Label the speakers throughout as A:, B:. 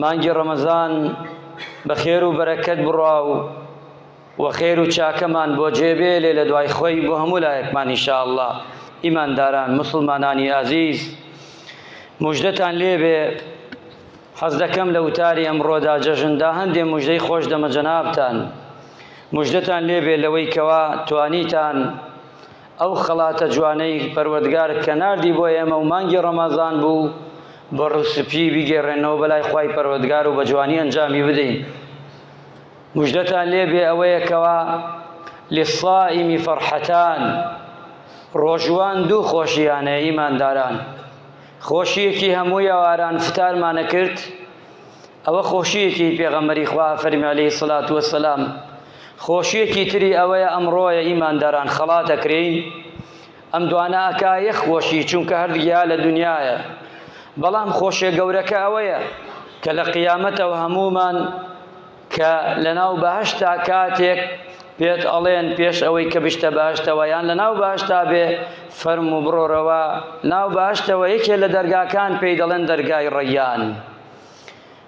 A: مانگی ڕەمەزان بە خێر و بەرەکەت بڕا و و خێر و چاکەمان بۆ جێبێلێ لە دوای خۆی بۆ هەموو لایەکمان ئینشاءاللە ئیمانداران موسڵمانانی ئازیز مژدەتان لێبێ حەز دەکەم لە وتاری ئەمڕۆدا جەژندا هەندێ مژدەی خۆش دەمە جەنابتان مژدەتان لێبێ لەوەی کەوا توانیتان ئەو خەڵاتە جوانەی پەروەردگار کە ناردی بۆ ئێمە و مانگی ڕەمەزان بوو بە ڕوو سپی بیگەڕێنەوە بەلای خوای پەروەردگار و بە جوانی ئەنجامی بدەین مژدەتان لێ بێ ئەوەیە کەوا للصائمی فەرحەتان ڕۆژوان دوو خۆشیانە ئیمانداران خۆشیەکی هەموو یاواران فتارمانە کرد ئەوە خۆشیەکی پێغەمبەری خوا فەرمی علیه الصلاة والسلام خۆشیەکی تری ئەوەیە ئەمڕۆیە ئیمانداران خەڵات ئەکرێین ئەم دوانە ئەکایە خۆشی چونکە هەردگیا لە دنیایە بەڵام خۆشیە گەورەکە ئەوەیە کە لە قیامەتەوە هەمومان کە لەناو بەهشتا کاتێک پێت ئەڵێن پێش ئەوەی کە بشتە باشتەوە یان لە ناو باشتا بێ فەرم و بڕۆرەوە ناو باشتەوە یەکێ لە دەرگاکان پێی دەڵێن دەرگای ڕەیان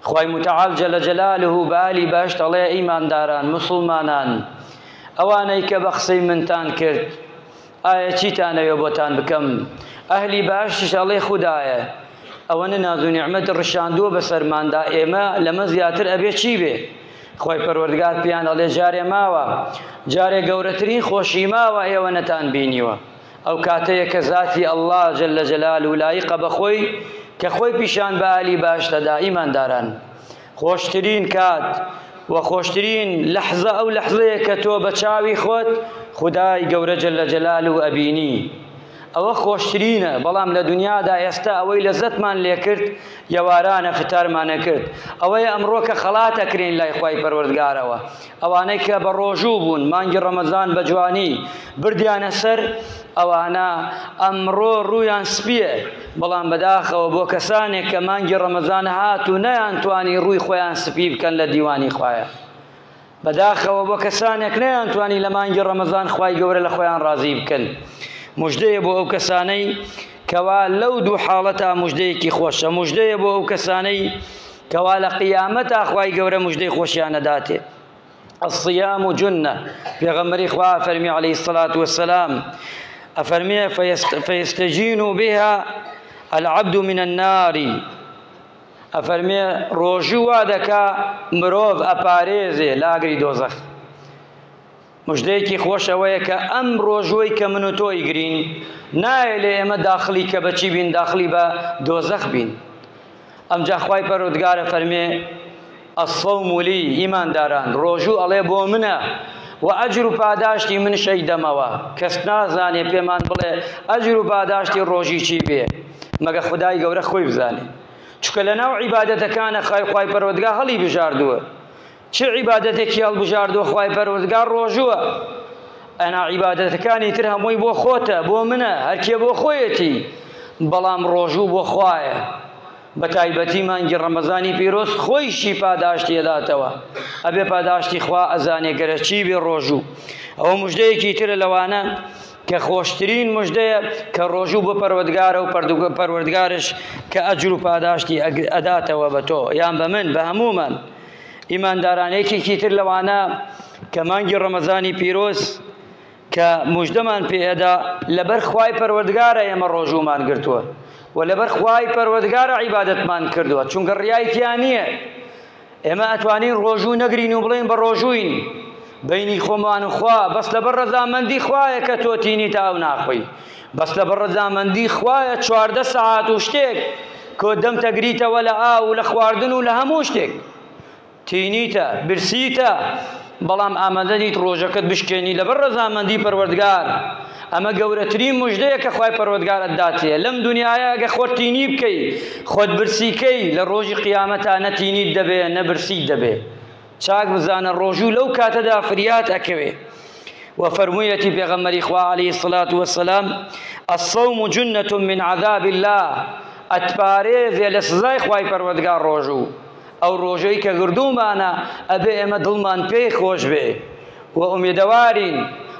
A: خوای متعال جل جلاله بە ئالی بەهشت ئەڵێ ئیمانداران مسوڵمانان ئەوانەی کە بە قسەی منتان کرد ئایا چیتانەوێ بۆتان بکەم ئەهلی بەهشتش ئەڵێ خودایە ئەوەنە ناز و نیعمەت ڕشاندووە بەسەرماندا ئێمە لەمە زیاتر ئەبێ چی بێ خۆی پەروەردگار پیان ئەڵێ جارێ ماوە جارێ گەورەترین خۆشی ماوە ئێوە نەتان بینیوە ئەو کاتەیە کە زاتی اللە جل جلالە لایقە بە خۆی کە خۆی پیشان بە ئالی باش دەدا ئیمانداران خۆشترین کات و خۆشترین لەحزە ئەو لەحزەیە کە تۆ بە چاوی خۆت خدای گەورە جل جلال و ئەبینی ئەوە خۆشترینە بەڵام لە دنیادا ئێستا ئەوەی لە زەتمان لێکرد یەوارانە فتارمانە کرد ئەوەی ئەمڕۆکە خەڵات ئەکرین لای خی پەروەردگارەوە ئەوانەی کە بە ڕۆژوو بوون مانگی ڕەمەزان بە جوانی بردیانە سەر ئەوانە ئەمڕۆ ڕوویان سپیە بەڵام بەداخەوە بۆ کەسانێک کە مانگی ڕەمەزان هات و نەیان توانی ڕووی خۆیان سپی بکەن لە دیوانی خوایە بەداخەوە بۆ کەسانێک نەیان توانی لە مانگی ڕەمەزان خی گەورە لە خۆیان ڕازی بکەن مژدەیە بۆ ئەو کەسانەی کەوا لەو دوو حاڵەتە مژدەیەکی خۆشە مژدەیە بۆ ئەو کەسانەی کەوا لە قیامەتا خوای گەورە مژدەی خۆشیان ئەداتێ الصیام جنە پێغەمبەری خوا فەرمی علیه الصلاة والسلام ئەفەرمێ فیستجین بها العبد من النار ئەفەرمێ ڕۆژوو وا دەکا مرۆڤ ئەپارێزێ لاگری دۆزەخ مژدەیەکی خۆش ئەوەیە کە ئەم ڕۆژوەی کە من و تۆ ئیگرین نایە لێ ئێمە داخلی کە بەچی بین داخلی بە دۆزەخ بین ئەمجا خوای پەرۆدگارە فەرمێ الصوم لي ئیمانداران ڕۆژوو ئەڵێ بۆ منە و ئەجر و پاداشتی من شەی دەمەوە کەس نازانێ پێمان بڵێ ئەجر و پاداشتی ڕۆژی چی بێ مەگە خدای گەورە خۆی بزانێ چکە لە ناو عیبادەتەکانە خای خوای پەرۆدگا هەڵی بژاردووە چ عیبادەتێکی هەڵبژاردووە خوای پەروەردگار ڕۆژووە ئەنا عیبادەتەکانی تر هەمووی بۆ خۆتە بۆ منە هەرکێ بۆ خۆیەتی بەڵام ڕۆژوو بۆ خوایە بە تایبەتی مانگی ڕەمەزانی پیرۆز خۆیشی پاداشتی ئەداتەوە ئەبێ پاداشتی خوا ئەزانێ گەرەچی بێ ڕۆژوو ئەوە مژدەیەکی ترە لەوانە کە خۆشترین مژدەیە کە ڕۆژوو بۆ پەروەردگارە و پەروەردگارش کە ئەجر و پاداشتی ئەداتەوە بە تۆ یان بە من بە هەموومان ئیمانداران یەکێکی تر لەوانە کە مانگی ڕەمەزانی پیرۆز کە مژدەمان پێئەدا لەبەر خوای پەروەردگارە ئێمە ڕۆژوومان گرتووە و لەبەر خوای پەروەردگارە عیبادەتمان کردووە چونکە ڕیای تیا نییە ئێمە ئەتوانین ڕۆژوو نەگرین و بڵێن بە ڕۆژووین بینی خۆمان و خوا بەس لەبەر ڕەزامەندی خوایە کە تۆ تینی تا ئەو ناخۆی بەس لەبەر ڕەزامەندی خوایە چواردە سەعات و شتێک کۆ دەمتەگریتەوە لە ئاو و لە خواردن و لە هەموو شتێک تینیتە برسیتە بەڵام ئامادە نیت ڕۆژەکەت بشکێنی لەبەر ڕەزامەندی پەروەردگار ئەمە گەورەترین مژدەیە کە خوای پەروەردگارت داتێ لەم دنیاە گە خۆت تینی بکەی خۆت برسیکەی لە ڕۆژی قیامەتا نەتینیت دەبێ نەبرسیت دەبێ چاک بزانە ڕۆژوو لەو کاتەدا فریات ئەکەوێ و فەرموویەتی پێغەمبەری خوا عەلەیهی سڵات وەسەلام الصوم جنة من عذاب الله ئەتپارێزێ لە سزای خوای پەروەردگار ڕۆژوو ئەو ڕۆژەی کە گردوومانە ئەبێ ئێمە دڵمان پێی خۆش بێ و ئومێدەوارین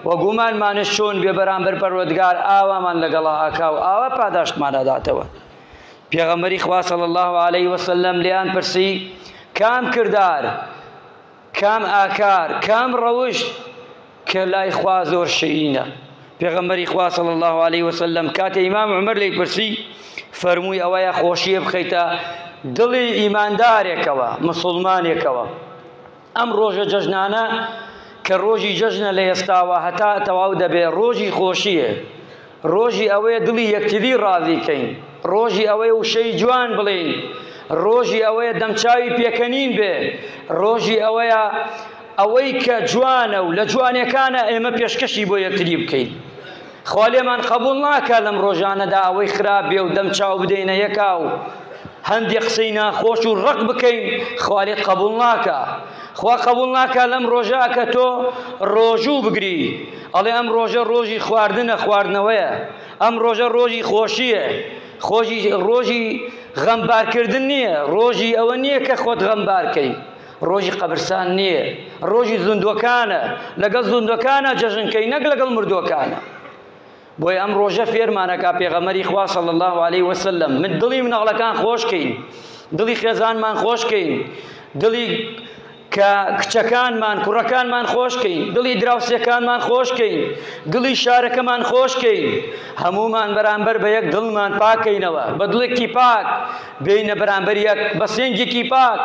A: و گومانمانش چۆن بێ بەرامبەر پەروەردگار ئاوامان لەگەڵا ئاکا و ئاوا پاداشتمان ئەداتەوە پێغەمبەری خوا صلی الله علیه و سلم لێیان پرسی کام کردار کام ئاکار کام ڕەوشت کە لای خوا زۆر شیرینە پێغەمبەری خوا صلی الله علیه و سلم کاتێ ئیمام عمر لی پرسی فەرمووی ئەوەیە خۆشیە بخەیتە دڵی ئیماندارێکەوە مسلمانێکەوە ئەم ڕۆژە جەژنانە کە ڕۆژی جەژنە لە ئێستاوە هەتا تەواو دەبێ ڕۆژی خۆشییە، ڕۆژی ئەوەیە دڵی یەکتری ڕازی کەین، ڕۆژی ئەوەیە وشەی جوان بڵێین، ڕۆژی ئەوەیە دەمچاوی پێکەنین بێ، ڕۆژی ئەوەیە ئەوەی کە جوانە و لە جوانێکانە ئێمە پێشکەشی بۆ یەکتری بکەین. خوا لێمان قەبووڵ ناکا لەم ڕۆژانەدا ئەوەی خراپ بێ و دەم چاو بدەینە یەکا و هەندێ قسەی ناخۆش و ڕق بکەین خوا لێت قەبووڵ ناکا خوا قەبووڵ ناکا لەم ڕۆژە کە تۆ ڕۆژوو بگری ئەڵێ ئەم ڕۆژە ڕۆژی خواردنە خواردنەوەیە ئەم ڕۆژە ڕۆژی خۆشیە خۆشی ڕۆژی غەمبارکردن نییە ڕۆژی ئەوە نییە کە خۆت غەمبارکەی ڕۆژی قەبرسان نییە، ڕۆژی زوندوەکانە، لەگەڵ زوندوەکانە جەژن کەی نەک لەگەڵ مردوەکانە. بۆیە ئەم ڕۆژە فێرمانەکا پێغەمەری خوا صلی الله علیه وسلم من دڵی منەغڵەکان خۆشکەین دڵی خێزانمان خۆشکەین دڵی کە کچەکانمان کوڕەکانمان خۆشکەین دڵی دراوسێکانمان خۆشکەین دڵی شارەکەمان خۆشکەین هەمومان بەرامبەر بە یەک دڵمان پاکەینەوە بە دڵێکی پاک بێینە بەرامبەر یەک بە سنگێکی پاک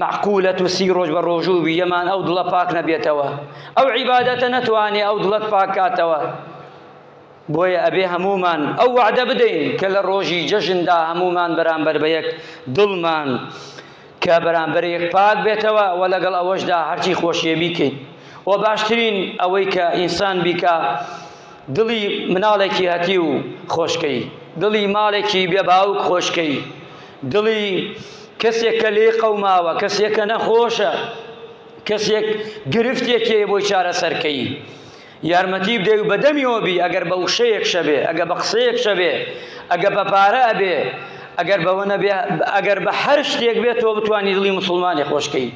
A: معقولە تو سی ڕۆژ بە ڕۆژوو بی یەمان ئەو دڵە پاک نەبێتەوە ئەو عیبادەتە نەتوانێ ئەو دڵەت پاکاتەوە بۆیە ئەبێ هەمومان ئەو وعدە بدەین کە لە ڕۆژی جەژندا هەمومان بەرامبەر بە یەک دڵمان کە بەرامبەر یەک پاک بێتەوە و لەگەڵ ئەوەشدا هەرچی خۆشیێ بیکەین و باشترین ئەوەی کە ئینسان بیکە دڵی مناڵێکی هەتیو خۆشکەی. دڵی ماڵێکی بێ باوک خۆشکەی. دڵی کەسێک کە لێی قەوماوە، کەسێک کە نەخۆشە، کەسێک گرفتێکی هەیە بۆی چارەسەر کەی. یارمەتی بدەی و بە دەمیەوە بی، ئەگەر بە وشەیەک شەبێ، ئەگەر بە قسەیەک شەبێ، ئەگەر بە پارە ئەبێ، ئەگەر بەوە نەبێ، ئەگەر بە هەر شتێک بێ تۆ بتوانی دڵی موسڵمانێ خۆشکەی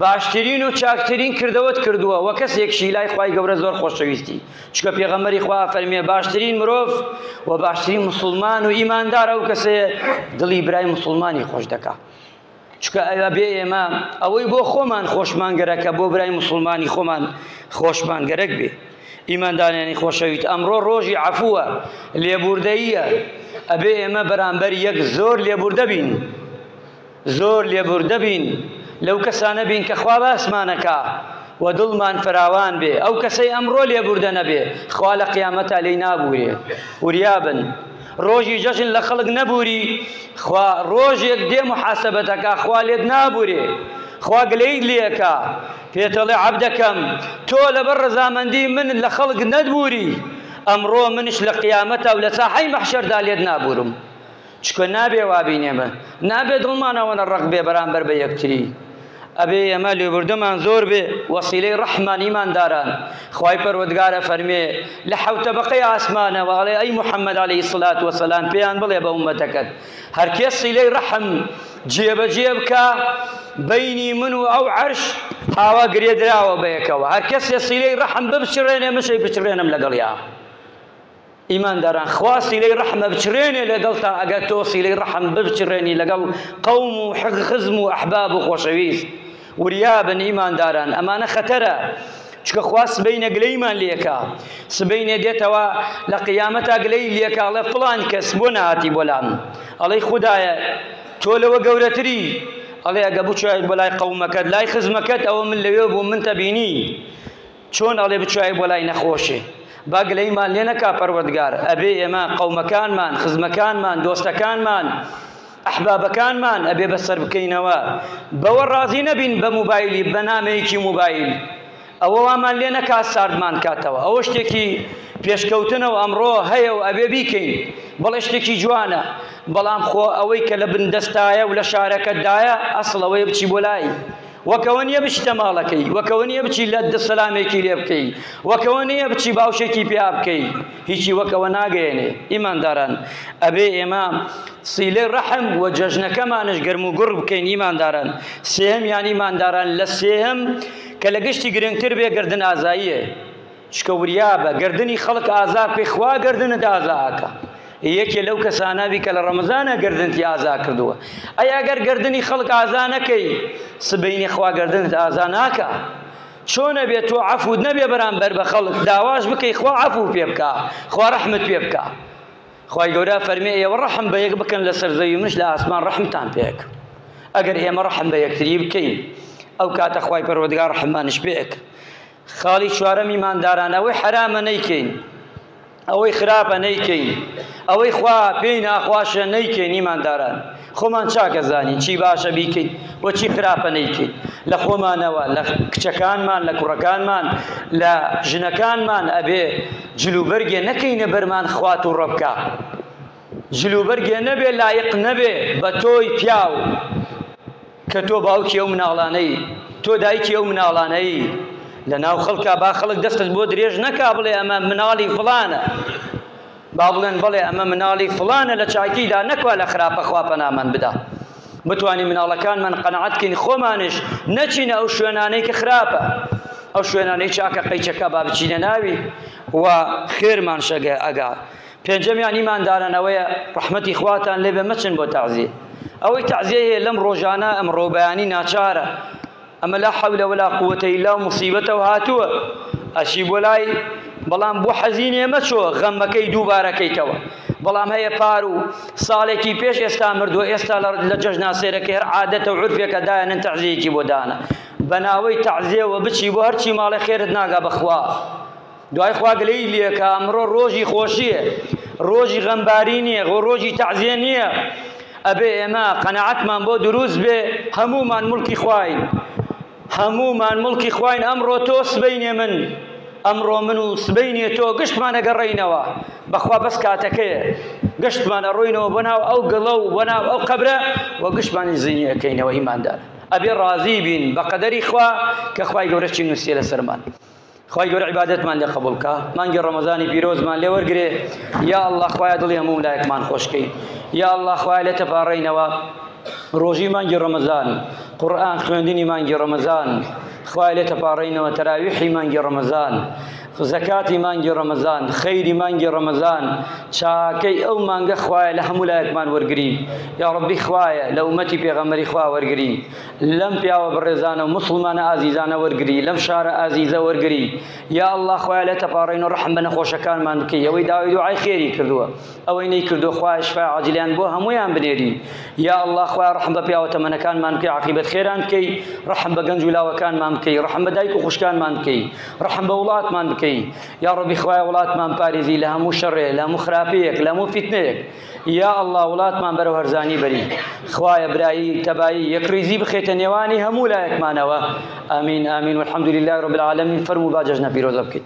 A: باشترین و چاکترین کردەوەت کردووە و کەسێکشی لای خوای گەورە زۆر خۆشەویستی. چونکە پێغەمبەری خوا فەرمیێ باشترین مرۆڤ و باشترین مسلمان و ئیماندار ئەو کەسەیە دڵی برای مسلمانی خۆش دەکا چکە ئەوە بێ ئێمە ئەوەی بۆ خۆمان خۆشمان گەرەکە بۆ برای مسلمانی خۆمان خۆشمان گەرەک بێ ئیماندانیانی خۆشەویت ئەمڕۆ ڕۆژی عفووە لێبوردەییە ئەبێ ئێمە بەرامبەر یەک زۆر لێبوردە بین. زۆر لێبوردە بین لەو کەسانە بین کە خوا باسمان ئەکا و دڵمان فراوان بێ، ئەو کەسەی ئەمڕۆ لێبوردە نەبێ خوا لە قیامەتا لێی نابوورێ، وریا بن ڕۆژی جەژن لە خەڵک نەبووری خوا ڕۆژێک دێ موحاسەبەت ئەکا خوا لێت نابوورێ، خوا گلەیت لێ ئەکا پێت ئەڵێ عەبدەکەم تۆ لەبەر ڕەزامەندی من لە خەڵک نەتبووری ئەمڕۆ منیش لە قیامەتا و لە ساحەی مەحشەردا لێت نابوورم. چونکە نابێ وا بین ئێمە نابێ دڵمان ئەوەنە ڕەق بێ بەرامبەر بە یەکتری ئەبێ ئێمە لێبوردەمان زۆر بێ وەسیلەی ڕەحمان ئیمانداران خوای پەروەردگار ئەفەرمێ لە حەوت تەبەقەی ئاسمانەوە ئەڵێ ئەی محەممەد عەلەیهی سڵات وەسەلام پێیان بڵێ بە ئوممەتەکەت هەر کێ سیلەی ڕەحم جێبەجێ بکا بینی من و ئەو عەرش هاوا گرێ دراوە بە یەکەوە هەر کەسێ سیلەی ڕەحم ببچڕێنێ مشەی بچڕێنم لەگەڵیا ئیمانداران خوا سیلەی ڕەحم ئەبچڕێنێ لەگەڵتا ئەگەر تۆ سیلەی ڕەحم ببچڕێنی لەگەڵ قەوم و خزم و ئەحباب و خۆشەویست وریابن ئیمانداران ئەمانە خەتەرە چکە خوا سبەینە گلەیمان لێکا سبەینێ دێتەوە لە قیامەتا گلەی لێکا ئەڵێ فڵان کەس بۆ نهاتی بۆلام ئەڵەی خودایە تۆ لەوە گەورەتری ئەڵێ ئەگە بچێت بۆ لای قەومەکەت لای خزمەکەت ئەوە من لەوێ بوو من تەبینی چۆن ئەڵێ بچوایە بۆ لای نەخۆشێ با گلەیمان لێ نەکا پەروەردگار ئەبێ ئێمە قەومەکانمان خزمەکانمان دۆستەکانمان ئەحبابەکانمان ئەبێ بەسەر بکەینەوە بەوە ڕازی نەبین بە موبایلی بە نامەیەکی موبایل ئەوە وامان لێ نەکا ساردمان کاتەوە ئەوە شتێکی پێشکەوتنە و ئەمڕۆ هەیە و ئەبێ بیکەین بەڵێ شتێکی جوانە بەڵام خۆ ئەوەی کە لە بندەستایە و لە شارەکەتدایە ئەسڵەوەی بچی بۆ لای وەکەوە نیە بچیتە ماڵەکەی، وەکەوە نیە بچی لە دە سەلامێکی لێ بکەی، وەکەوە نیە بچی باوشێکی پیا بکەی، هیچی وەکەوە ناگەیەنێ. ئیمانداران ئەبێ ئێمە سیلەی ڕەحم و جەژنەکەمانش گەرم و گوڕ بکەین. ئیمانداران سێهەمیان ئیمانداران لە سێهەم کە لە گشتی گرنگتر بێ گەردن ئازاییە. چکە وریابە گەردنی خەڵک ئازا بکەی خوا گەردنت ئازا ئەکا یەکێ لەو کەسانابی کە لە ڕەمەزانە گردنتی ئازا کردووە ئەی ئەگەر گردنی خەڵک ئازا نەکەی سبینی خوا گردنت ئازا ناکە چۆنە بێت تۆ عفوود نەبێ بەرامبەر بە خەڵک داواش بکەی خوا عفو پێ بکە خوا ڕحمت پێ بکە خی گەورە فەرمێ ئێوە ڕحم بە یەک بکەن لە سەرزەوی منش لە ئاسمان ڕحمتان پێک ئەگەر ئێمە ڕحم بە یەکتری بکەین ئەو کاتە خی پەرۆدگار ڕحمانش پێک خاڵی چوارەم ئیمانداران ئەوەی حەرامە نەیکەین ئەوەی خراپە نەیکەین ئەوەی خوا پێی ناخواشە نەیکەین ئیمانداران خۆمان چاکە زانین چی باشە بیکەین و چی خراپە نەیکەین لە خۆمانەوە لە کچەکانمان لە کوڕەکانمان لە ژنەکانمان ئەبێ جلوبەرگێ نەکەینە بەرمان خوات و ڕەبکە جل و بەرگێ نەبێ لایق نەبێ بە تۆی پیاو کە تۆ باوکی ئەو مناڵانەی تۆ دایکی ئەو مناڵانەی لە ناو خەڵکا با خەڵک دەستت بۆ درێژ نەکا بڵێ ئەمە مناڵی فڵانە با بڵێن بڵێ ئەمە مناڵی فڵانە لە چاکیدا نەکوا لە خراپە خوا پەنامان بدا بتانی مناڵەکانمان قەنەعەتکەین خۆمانش نەچینە ئەو شوێنانەی کە خراپە ئەو شوێنانەی چاکە قەیچەکە با بچینە ناوی و خێرمان شەگە ئەگا پێنجەمیان ئیمانداران ئەوەیە ڕەحمەتی خواتان لێبێ مەچن بۆ تەعزیە ئەوەی تەعزیە هەیە لەم ڕۆژانە ئەمڕۆ بەیانی ناچارە ئەمە لا حەولە ولا قووەتە ئیلا و موسیبەتەوە هاتووە ئەچی بۆ لای بەڵام بۆ حەزینێ مەچۆ غەمەکەی دووبارەکەیتەوە بەڵام هەیە پار و ساڵێکی پێش ئێستا مردووە ئێستا لە جەژنا سێرەکە هەر عادەتە و عرفێکە دایەنن تەعزیەکی بۆ دانە بەناوەی تەعزیەوە بچی بۆ هەرچی ماڵێ خێرت ناگا بەخوا دوای خوا گلەیی لێکە ئەمڕۆ ڕۆژی خۆشیە ڕۆژی غەمباری نییە خۆ ڕۆژی تەعزیە نییە ئەبێ ئێمە قەنەعەتمان بۆ دروست بێ هەمومان مڵکی خواین هەمومان مڵکی خواین ئەمڕۆ تۆ سبینێ من ئەمڕۆ من و سبینێ تۆ گشتمان ئەگەڕێینەوە بەخوا بەس کاتەکەیە گشتمان ئەڕۆینەوە بۆ ناو ئەو گڵە و بۆ ناو ئەو قەبرە و گشتمانی زینی ئەەکەینەوە ئیماندار ئەبێ ڕازی بین بە قەدەری خوا کە خوای گەورە چی نووسێ لەسەرمان خوای گەورە عیبادەتمان لێ قبول کا مانگی ڕەمەزانی پیرۆزمان لێ وەرگێ یا الله خوایە دڵی هەموو لایەکمان خۆشکەی یا الله خوای لێ تەپاڕێینەوە ڕۆژی مانگی ڕەمەزان قورآن خوێندنی مانگی ڕەمەزان خوای لێ تەپاڕێینەوە تەراویحی مانگی ڕەمەزان زەکاتی مانگی ڕەمەزان خەیری مانگی ڕەمەزان چاکەی ئەو مانگە خوایە لە هەموو لایەکمان وەرگری یا ڕبی خوایە لە ومەتی پێغەمەری خوا وەرگری لەم پیاوە بەڕێزانە و مسڵمانە ئازیزانە وەرگری لەم شارە ئازیزە وەرگری یا الله خۆیان لێ تەپاڕین و ڕحم بە نەخۆشەکانمان بکەی ئەوەی داوای دوعای خێری کردووە ئەوەی نەی کردو خوای شفای عاجلیان بۆ هەمویان بنێری یا الله خوای ڕحم بە پیاوە تەمەنەکانمان بکەی عقیبەت خێران بکەی ڕحم بە گەنج و لاوەکانمان بکەی ڕحم بە دایک و خوشکانمان بکەی ڕحم بە وڵاتمان بکەی یا ڕبی خوای وڵاتمان پارێزی لە هەموو شەڕێ لە هەموو خراپەیەک لە هەموو فیتنەیەک یا اللە وڵاتمان بەرەو هەرزانی بەری خوایە برایی تەبایی یەکڕیزی بخێتە نێوانی هەموو لایەکمانەوە ئامین ئامین والحمد لله رب العالمین فەرموو با جەژنە پیرۆزە بکەین